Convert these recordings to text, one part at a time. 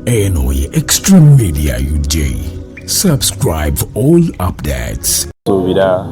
Eno ye Extreme Media UJ. Subscribe for all updates. Suubira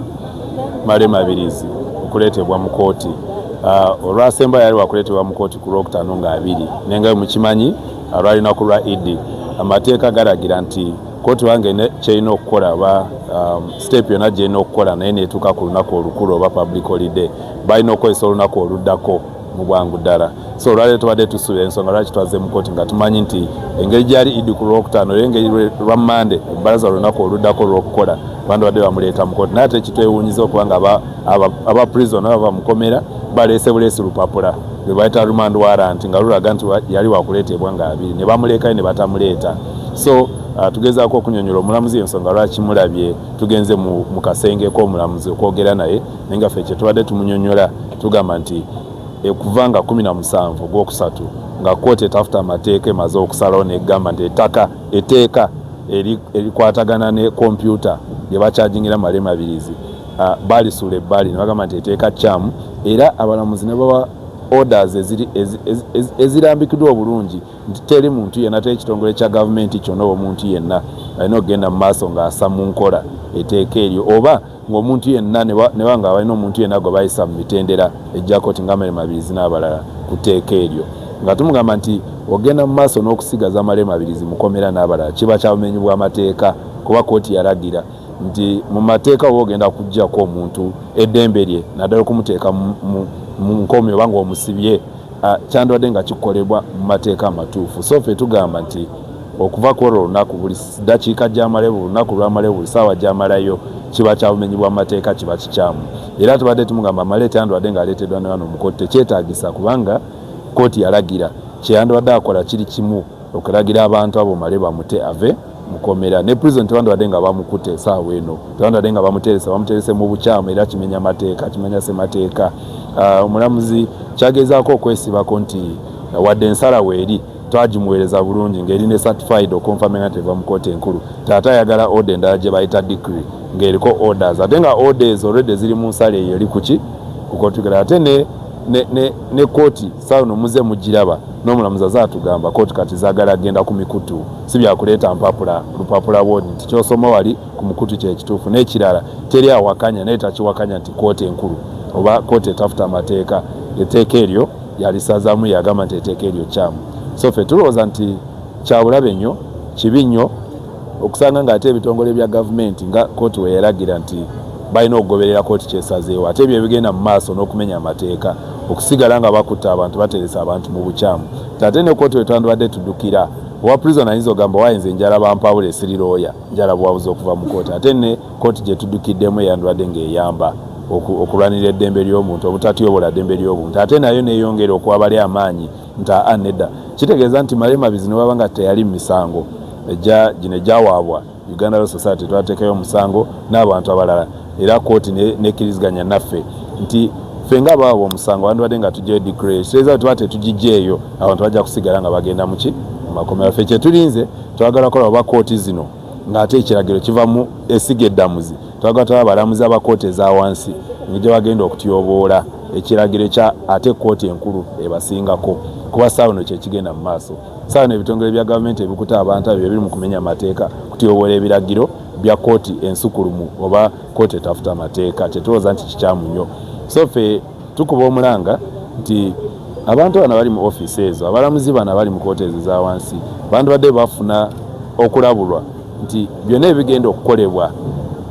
Male Mabirizi okuleetebwa mu kkooti uh, olwasemba yali wakuleetebwa mu kkooti ku lwokutaano nga abiri naye nga mukimanyi uh, lwalinaku lwa idi amateeka galagira nti kkooti wange kyerina okukola oba um, siteepu yonna gyerina okukola naye neetuuka ku lunaku olukulu oba public holiday balina okukozesa olunaku oluddako mu bwangu ddala so olwaleero tubadde tusula ensonga lwaki twazze mu kooti nga tumanyi nti engeri gyali idi ku lwokutaano era engeri lwa mande ebbalaza olunaku oluddako olwokukola abantu badde bamuleeta mu kooti naye ate kitwewunyiza okuba nga aba prison aba bamukomera baleese buleesi lupapula lwe bayita remand warrant nga lulaga nti yali wakuleeteebwa nga abiri ne bamuleekayo ne batamuleeta so uh, tugezaako okunyonyola omulamuzi ensonga lwaki mulabye tugenze mu kasenge k'omulamuzi okwogera naye naye nga ffe kyetubadde tumunyonyola tugamba nti ekuva nga kumi na musanvu ogwokusatu nga kkooti etafuta amateeka emaze okusalawo negamba nti ettaka eteeka erikwatagana ne kompyuta lye bakyajingira male mabirizi balisuula ebbali ne bagamba nti eteeka kyamu era abalamuzi ne bawa orders ezirambikiddwa obulungi nti teri muntu yenna teri kitongole kya gavumenti kyonna omuntu yenna alina okugenda mu maaso ng'asa mu nkola eteeka eryo oba ng'omuntu yenna ne baba nga balina omuntu yenna gwe bayisa mu mitendera egya kooti nga male mabirizi n'abalala ku tteeka eryo nga tumugamba nti ogenda mu maaso n'okusigaza male mabirizi mukomera n'abalala kiba kya bumenyi bw'amateeka kuba kooti yalagira nti mu mateeka oba ogenda kuggyako omuntu eddembe lye naddala okumuteeka mu nkomi oba ng'omusibye kyandibadde nga kikolebwa mu mateeka amatuufu so fe tugamba nti okuva ku olwo olunaku buli ddakiika gyamalayo buli lunaku lwamalayo buli saawa gyamalayo kiba kya bumenyi bwa mateeka kiba kikyamu era tubadde tumugamba amaleeta yandibadde ng'aleeteddwa ne bano mu kooti tekyetaagisa kubanga kooti yalagira kyeyandibadde akola kiri kimu okulagira abantu abo male bamute ave mukomera ne prison tewandibadde nga bamukute esaawa eno tewandibadde nga bamuteresa bamuterese mu bukyamu era kimenya mateeka kimenya semateeka ah, omulamuzi kyagezaako okwesibako nti wadde ensala weeri twagimuweereza bulungi ng'eri ne certified okonfamina nti eva mu kooti enkulu taata ayagala order endala gye bayita decree ng'eriko orders ate nga order ezo already ziri mu nsala eyo eri kuki kukotigala ate ne ne kooti saawa no muze mugiraba n'omulamuzi aze atugamba kooti kati zaagala agenda ku mikutu si byakuleeta mpapula lupapula bwodi nti kyosoma wali ku mukutu kyekituufu n'ekirala teri awakanya naye takiwakanya nti kooti enkulu oba kooti etafuta amateeka eteeka eryo yalisazaamu yagamba nti eteeka eryo kyamu so fe tulowooza nti kyabulabe nnyo kibi nnyo okusanga nga ate ebitongole bya gavumenti nga kooti weyalagira nti balina okugoberera kooti kyesazeewo ate ebyo ebigenda mu maaso n'okumenya amateeka okusigala nga bakutta abantu bateresa abantu mu bukyamu tate ne kooti wetwandibadde tudukira owa prison ayinza ogamba wayenze njala bampawula esirirooya njala buwabuzi okuva mu kooti ate ne Kkooti gye tuddukiddemu eyandibadde ng'eyamba okulwanira eddembe ly'obuntu obutatyobola ddembe ly'obuntu ate nayo neyongera okuwabali amaanyi nti aa nedda kitegeeza nti malemabizi ne bwaba nga teyali mu misango ejja gino egyawaabwa uganda law society twateekayo omusango n'abantu abalala era kkooti nekkiriziganya naffe nti ffe nga abawaabwa omusango wandibadde nga tujjayo dikre ekitegeeza tuba tetugijjeeyo abantu bajja kusigala nga bagenda muki mu makomera ffe kyetulinze twagala kola oba kkooti zino ng'ate ekiragiro kiva mu esiga eddamuzi twagala taba abalamuzi aba kooti eza wansi ngegye bagenda okutyoboola ekiragiro ekya ate kooti enkulu ebasingako kuba saawa no kyekigenda mu maaso saawa no ebitongole bya gavumenti ebikuta abantu abyo ebiri mu kumenya amateeka kutyoboola ebiragiro bya kooti ensukulumu oba kooti etafuta amateeka kyetulowooza nti kikyamu nnyo so fe Tukuba omulanga nti abantu bano bali mu ofiisi ezo, abalamuzi bano abali mu kooti ezo eza wansi bandibadde bafuna okulabulwa nti byonna ebigenda okukolebwa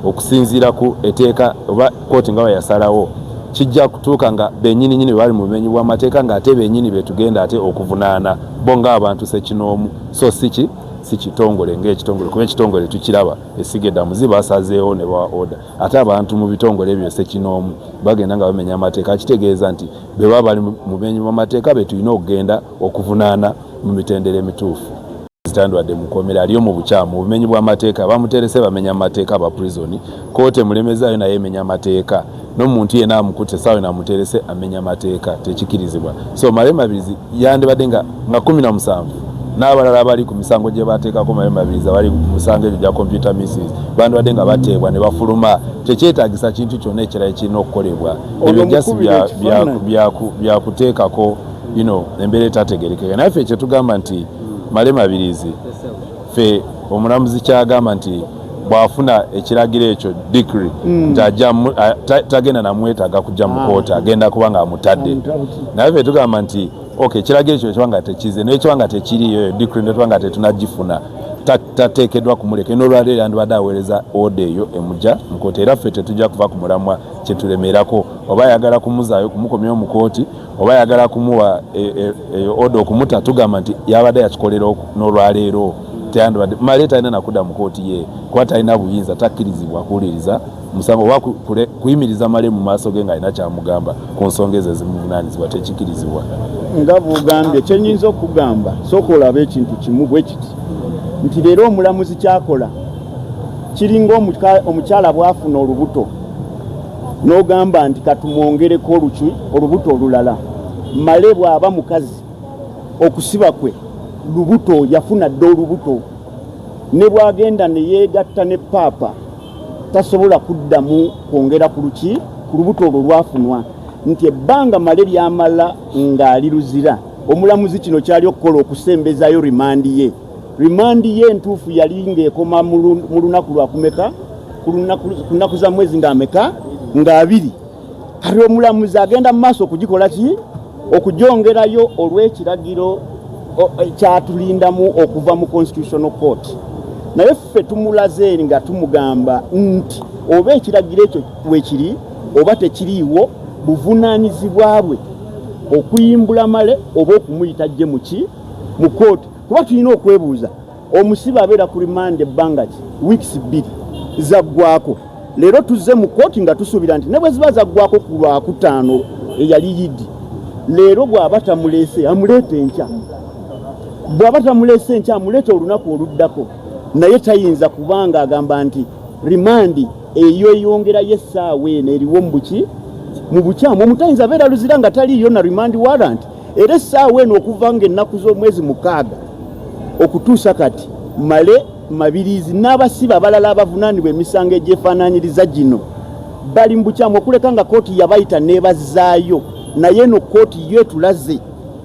okusinziira ku eteeka oba kooti nga weyasalawo kijja kutuuka nga benyini nyini bali mu bumenyi bw'amateeka ng'ate benyini betugenda ate okuvunaana bo ng'abantu sekinoomu so siki si kitongole ng'ekitongole kuba ekitongole tukiraba esiga eddamuzi basazeewo ne bawa oda ate abantu mu bitongole ebyo sekinoomu bagenda nga bamenya amateeka kitegeeza nti bwe baba bali mu menyi bamateeka be tulina okugenda okuvunaana mu mitendera emituufu zitandwadde mukomera aliyo mu bukyamu obumenyi bw'amateeka bamuterese bamenya amateeka aba prison koote mulemezaayo naye emenya amateeka n'omuntu yena amukutte saawe namuterese amenya amateeka tekikirizibwa so male mabizi yandibadde nga nga kumi na musanvu n'abalala abali ku misango gye bateekako mayo mabiriza bali ku misango egyo gya kompyuta misis bandibadde nga bateebwa ne bafuluma tekyetagisa kintu kyonna ekirala ekirina okukolebwa ebyo jasi byakuteekako bino embeera etategerekeka naye ffe kyetugamba nti male mabirizi ffe omulamuzi kyagamba nti bwafuna ekiragiro ekyo dikri hmm. nti tagenda namwetaaga kujja mu kooti agenda kuba nga amutadde naye ffe tugamba nti Okay, ekiraga ekyo ekiba nga tekize naye ekiba nga tekiriyo eyo dikri netuba nga tetunagifuna tateekeddwa kumuleka eno olwaleero yandibadde aweereza oda eyo emuja mukooti era ffe tetujja kuva ku mulamwa kyetulemerako oba ayagala kumuzaayo kumukomyawo mu kooti oba ayagala kumuwa e, e, eyo oda okumuta tugamba nti yabadde yakikolera n'olwaleero teyandibadde male talina nakuda mu kooti ye kuba talina buyinza takkirizibwa kuwuliriza omusango oba kuyimiriza male mu maaso ge ng'alina kyamugamba ku nsonga ezo ezimuvunaanyizibwa tekikirizibwa nga bwogambye kyenyinza okugamba sooka olaba ekintu kimu bwe kiti nti leero omulamuzi kyakola kiringa omukyala bwafuna olubuto n'ogamba nti katumwongereko oluki olubuto olulala male bw'aba mukazi okusiba kwe lubuto yafuna dde olubuto ne bw'agenda ne yeegatta ne paapa tasobola kuddamu kwongera ku luki ku lubuto olwo lwafunwa nti ebbanga male lyamala ng'ali luzira omulamuzi kino kyali okukola okusembezayo rimandi ye rimandi ye entuufu yali ng'ekoma mu lunaku lwakumeka ku nnaku za mwezi ng'ameka ng'abiri kati omulamuzi agenda mu maaso okugikola ki okugyongerayo olw'ekiragiro e, kyatulindamu okuva mu constitutional court naye ffe tumulaze nga tumugamba nti oba ekiragiro ekyo wekiri oba tekiriiwo buvunaanyizibwa bwe okuyimbula male oba okumuyita gye muki mu kooti kuba tulina okwebuuza Omusibe abeera ku rimanda ebbanga ki weeks bbiri zaggwako. Leero tuzze mu kkooti nga tusuubira nti ne bwe ziba zaggwako ku lwakutaano eyali yidi, leero bw'aba tamuleese amuleeta enkya, bw'aba tamuleese enkya amuleeta olunaku oluddako, naye tayinza kubanga agamba nti rimandi eyo eyongerayo essaawa eno eriwo mu buki mu bukyamu omutayinza abeera luzira nga taliiyo na rimandi warranti. era essaawa eno okuva nga ennaku z'omwezi mukaaga okutuusa kati male mabirizi n'abasibe abalala abavunaanibwa emisango egyefaananyiriza gino bali mu bukyamu okuleka nga kooti yabayita n'ebazzaayo naye eno kooti yo etulaze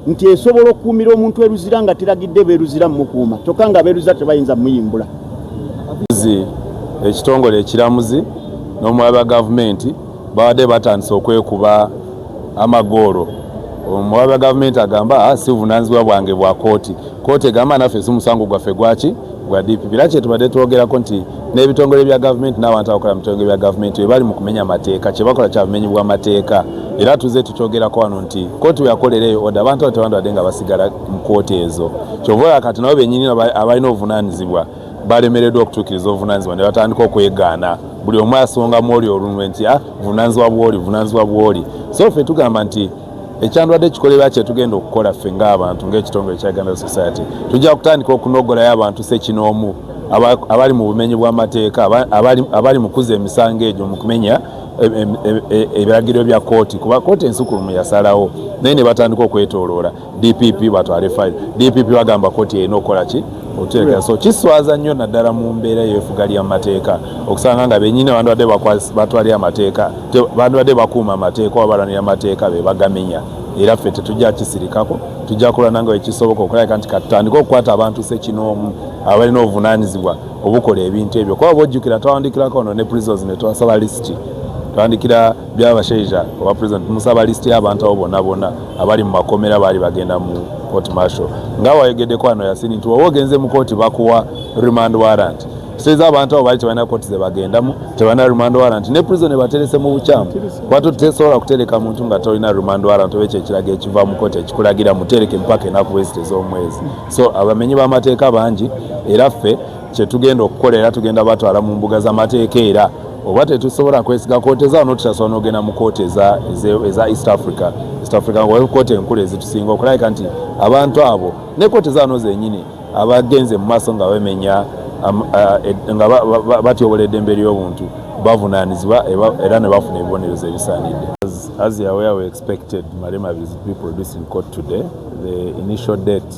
nti esobola okukuumira omuntu eruzira nga teragidde beeruzira mumukuuma kyokka nga beeruza tebayinza muyimbula ekitongole ekiramuzi n'omwaba gavumenti babadde batandise okwekuba amagoolo omuwabi wa gavumenti agamba ah, si buvunanyizibwa bwange bwa kooti kooti egamba naffe si musango gwaffe gwaki gwa dpp era kyetubadde twogerako nti n'ebitongole bya gavumenti n'abantu abakola mu bitongole bya gavumenti bebali mu kumenya amateeka kyebakola kya bumenyi bw'amateeka era tuze tukyogerako wano nti kooti weyakolera eyo oda abantu abo tebandibadde nga basigala mu kooti ezo kyova kati nabo benyini abalina obuvunanyizibwa balemereddwa okutuukiriza obuvunanyizibwa ne batandika okwegaana buli omu asonga mwoli olunwe nti ah, vunanyizibwa bwoli vunanyizibwa bwoli so ffe tugamba nti ekyandwadde kikolebwa kyetugenda okukola ffe ngaabantu ngaekitongole kya uganda society tujja kutandika okunogolayo abantu sekinoomu abali mu bumenyi bw'amateeka abali mu kuza emisango egyo mu kumenya e, e, e, ebiragiro bya kooti kuba kooti ensukulumu yasalawo naye ne batandika okwetooloola dpp batwale file dpp bagamba koti erina okukola ki otuteekera so kiswaza nnyo naddala mu mbeera yefuga lya mateeka okusanga nga benyini bandibadde batwalira amateeka bandibadde bakuuma amateeka oba balwanira amateeka be bagamenya era ffe tetujja kisirikako tujja kulwana nga wekisoboka okulabika nti katutandike okukwata abantu sekinoomu abalina obuvunanyizibwa obukola ebintu ebyo kuba bojjukira twawandikirako ono ne prisons ne twasaba lisiti twandikira byabashaija oba president musaba lisiti y'abantu abo bonna bonna abali mu makomera baali bagenda mu court marshal nga wayogeddeko wano yasini nti woba ogenze mu kooti bakuwa remand warrant seza abantu abo baali tebalina kooti zebagendamu tebalina remand warrant ne prison ebaterese mu bukyamu kwate tesobola kutereka muntu nga tolina remand warrant oba ekyo ekiraga ekiva mu kooti ekikulagira mutereke empaka enaku bwezite z'omwezi so abamenyi b'amateeka bangi era ffe kyetugenda okukola era tugenda batwala mu mbuga z'amateeka era oba tetusobola kwesiga kooti eza no tutasobola nogenda mu kooti eza east africa east africa wayo kooti enkulu ezitusinga okulabika nti abantu abo ne kooti zano zenyini abagenze mu maaso nga bemenya um, uh, e, nga batyobola eddembe ly'obuntu bavunanizibwa era ne bafuna ebibonerezo ebisaanidde as you are aware we expected malema is be produced in court today the initial date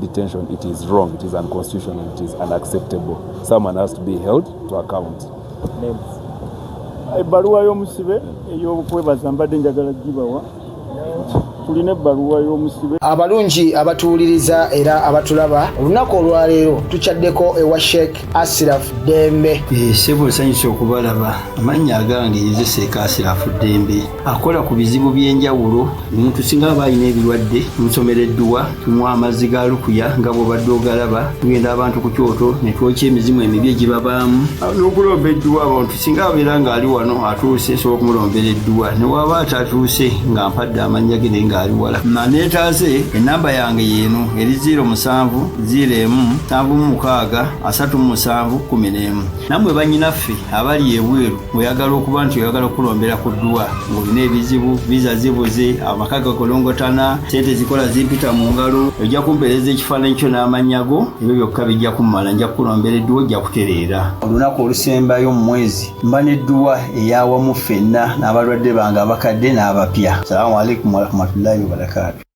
detention it is wrong it is unconstitutional it is unacceptable someone has to be held to account ebbaluwa y'omusibe ey'okwebaza mbadde njagala gibawa tulina ebbaluwa y'omusibe abalungi abatuwuliriza era abatulaba olunaku olwaleero tukyaddeko ewa sheik Asirafu Ddembe. Eh, ssebo nsanyusa okubalaba amannya agange nze seeka Asirafu Ddembe akola ku bizibu by'enjawulo omuntu singa aba alina ebirwadde nsomera edduwa tunywa amazzi ga lukuya nga bw'obadde ogalaba tugenda abantu ku kyoto ne twokya emizimu emibi egibabaamu n'okulomba edduwa abantu singa abeera ng'ali wano atuuse sobola okumulombera edduwa ne waaba atatuuse nga mpadde amannya ge naye ng'ali wala maneetaaze ennamba yange yeeno eri 0 musanvu 0 emu nsanvu mu mukaaga asatu mu musanvu kumi n'emu nammwe bannyinaffe abali ebweru oyagala okuba nti oyagala okukulombera ku dduwa ng'olina ebizibu viza zibuze amaka gakolongotana sente zikola zimpita mu ngalo ojja kumpeereza ekifaananyi kyo n'amannya go ebyo byokka bijja kummala nja kukulombera edduwa ojja kutereera olunaku olusembayo mu mwezi mba n'edduwa eyawamu ffenna n'abalwadde bange abakadde n'abapya salamu alaikum warahmatullahi wabarakaatu